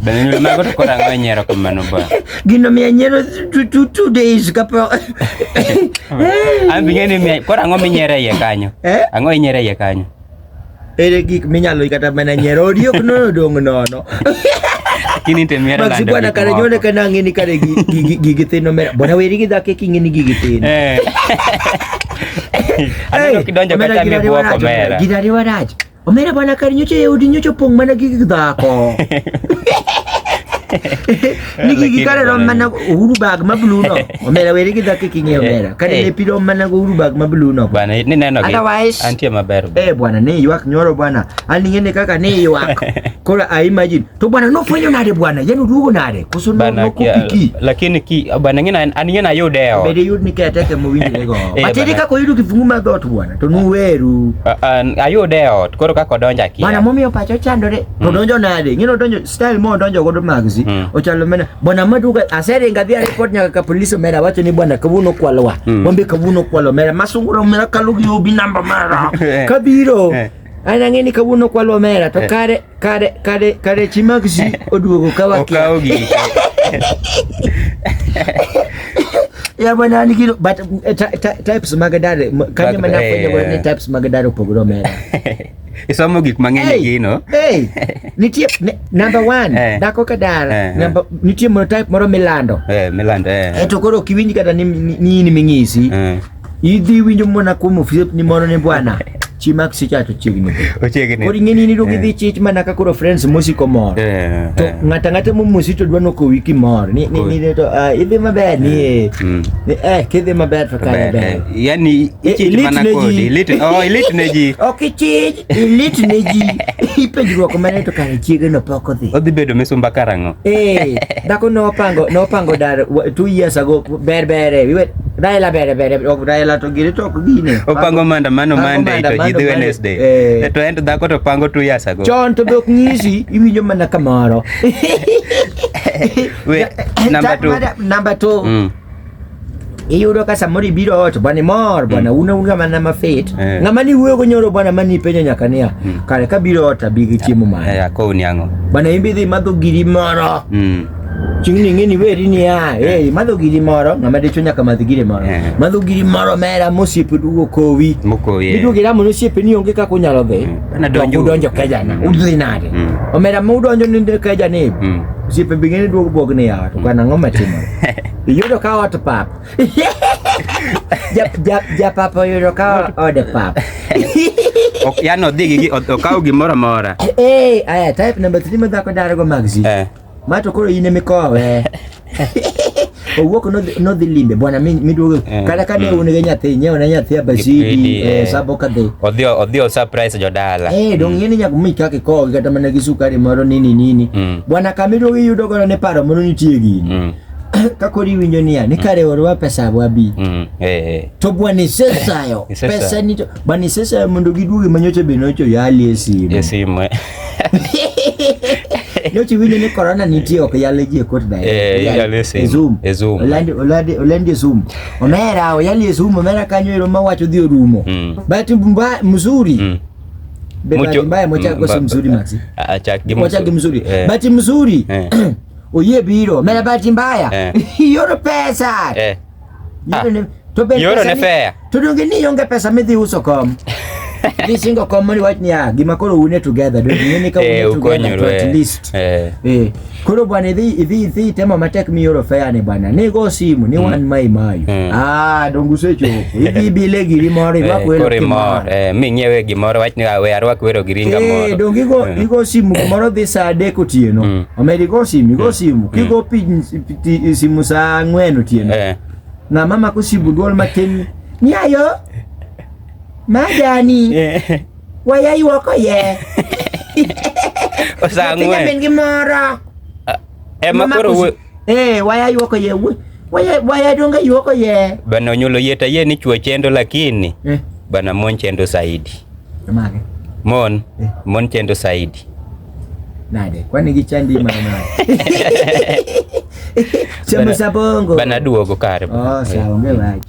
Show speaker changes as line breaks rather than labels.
Bende mago to kora ng'o nyiero kamano ba. Gino miya nyiero
two, two, two days kapo.
An bi ng'eni miya kora ng'o minyiero iye kanyo. Eh? Ang'o inyiero iye kanyo? Ere
gik minyalo kata mana nyiero odiok nono dong' nono.
Kini te miero lando. Maxi bwana kare nyone kana
ng'eni kare gigi thino mera. Bwana weri gi dhake king'eni gigi thino. Eh.
Aneno kidonjo ka chame buok omera. Gidari warach.
Omera bana kar nyocho e udi nyocho pong' mana gi dhako. Nigi gi kare rom mana uru bag ma blue no. Omera weri gi dhako kingi omera. Kare ne pi rom mana go uru bag ma blue no. Bana ni neno gi.
Otherwise. Antie maber.
Eh
bwana ni ywak
nyoro bwana. Ani ngene kaka ni ywak. Kora I imagine to bwana no fanyo nade bwana yani uduogo nade koso no kupiki lakini ki bwana
ngina aniye na yudeo bede yud ni ketete
mo winjire go eh, batiri kako yudu kifungu ma dot bwana to nuweru ayudeo
koro kako donja ki bwana momiyo pacho chandore
to hmm. donjo nade ngino donjo style mo donjo godo magzi hmm. ochalo mena bwana maduka asere ngabi report nyaka ka police mera wacho ni bwana kabuno kwalwa hmm. bombe kabuno kwalwa mera masunguro mera kalugi obi namba mara kabiro eh. anang'eni kabuno kwalwa mera to eh. kare Kare kare kare chi mag ji oduogo ka wakia. Okawo
gini.
Ya bwana ni kilo but eh, ty- ty- types mag dare m- kanyo Mag- mana fwenyo eh. ni types mag dare opogore omera. Isomo
gik mang'eny e gino. hey, nitie
ne, number one Eh. dako ka dara Eh, eh. number, nitie mono type moro milando Eh, Milanda. eh. eto
koro ok iwinj
kata ni ni- ni in ming'isi Eh. Idhi winjo mana kuom osiepni moro ni bwana chi mak sicha to chiegni dhi. Ochiegni. Koro ing'eni ni idwoko idhi chich mana ka koro friends mosiko mor. Eh, To eh. ng'ata ng'ata momosi to dwa nokowi kimor. Ni ni ni to ah, idhi maber ni eh. Mm. Ni, Eh kidhi maber to kare Ber, eh, ber. Yani Eh, ichich
ilit mana ne kodi. ji. Ilit, oh, ilit ne ji. Ok ichij,
ilit ne ji. Ipenjruok mane to kare chiege no pok odhi. Odhi bedo misumba karang'o?
Eh, dhako
nopango nopango dar wa- two years ago ber bere. We were Raila bere bere ok Raila to gire to ok gine. Opango maandamano
Monday to jidhi Wednesday. Eh. eh. To ento dhako to pango two years ago. Chon to be ok nyisi
iwinjo mana kamoro. We number two. Number two. Mm. iyudo ka samoro ibiro ot bwana imor bwana mm. una un ng'ama nama fit eh. ng'ama ni wuoyo gonyoro bwana mani ipenjo nyaka niya mm. kare kabiro ot abi gi chiemo mane eh, bwana
in bidhi madho
giri moro mm. Chieng' ni ing'e ni weri ni a, ah, eh, madho giri moro, ng'ama dicho nyaka madh giri moro. Eh. Madho giri moro mera mosiepe dugo kowi. Mokowi. Eh. Iduogi ramo nosiepe ni onge kaka unyalo dhi. Mm. Na donjo. Udonjo
keja na. Mm. Udhi
nade. Mm. Omera mu udonjo ni keja ni. Osiepe bing'e ni duogo bog ni ya, to kana ng'oma timo. Iyudo ka ot pap. Ja pap oyudo ka ode pap.
Yani odhi gi okaw gimoro amora. Eh, aya type
number 3 madhako darago magzi. Eh. Ma to koro in emikowe. Owuok nodhi- nodhi limbe bwana mi- miduogo Eh. kata ka ne un gi nyathi nyewo ne nyathi abasidi Gipidi, eh, eh. sabo kadhi. Odhi odhi o surprise
jodala. Eh, dong ng'eni nyaka mi
kaka ikowogi kata mana gi sukari moro nini nini. Mm. Bwana kamiduogo iyudo godo ni paro moro nitie gini. Mm. Ka koro iwinjo niya ni kare orwa pesa wabi. Mm. Eh. eh. to bwana isesayo Isesayo. pesa nito bwana isesayo mondo giduogi manyocha be nocho yali e simu E simu. eh. nyochi winjo ni corona nitie ok yale ji e kot dae eh yale e sim e
zoom e zoom olandi olandi
olandi e zoom omera oyali e zoom omera kanyo ero ma wacho dhi orumo mm. but mba mzuri mm. Mucho, mbaya mocha kwa mm, mzuri maxi achak gi mocha gi mzuri eh. but mzuri eh. oye biro mera but mbaya eh. yoro pesa eh. Ah. To be
yoro ne fair. To donge ni onge
pesa midhi uso kom. Ni singo kom mani wach niya gima koro une together donge ng'e ni ka eh, une together to at eh. least. Eh. eh. Koro bwana idhi idhi idhi temo matek mi yoro fair ni bwana. Ni go simu ni mm. wan mai mayu. Mm. Ah donge usechopo. Idhi bile giri moro eh, irwak welo kimoro. Eh mi
ng'iewe gimoro wach ni awe arwak welo giri ngamoro. Eh donge igo mm. igo
simu moro dhi saa adek otieno. Omedi go simu go simu. Kigo piny simu saa ng'wen otieno eh. ng'a mama kosibu dwol matin ni ayo majani eh. waya ywoko ye
saa ng'wen min gi moro
ah, ema
eh, koro wuo eh waya
ywoko ye waya waya donga ywoko ye bana onyulo yeta ye
ni chwo chendo lakini eh. bana mon chendo saidi
mon
eh. mon chendo saidi Nade?
Kwani gichandi mana nade? Chamo Bana-
sabongo. Bana duogo
kare. Oh,
sawa, onge wach.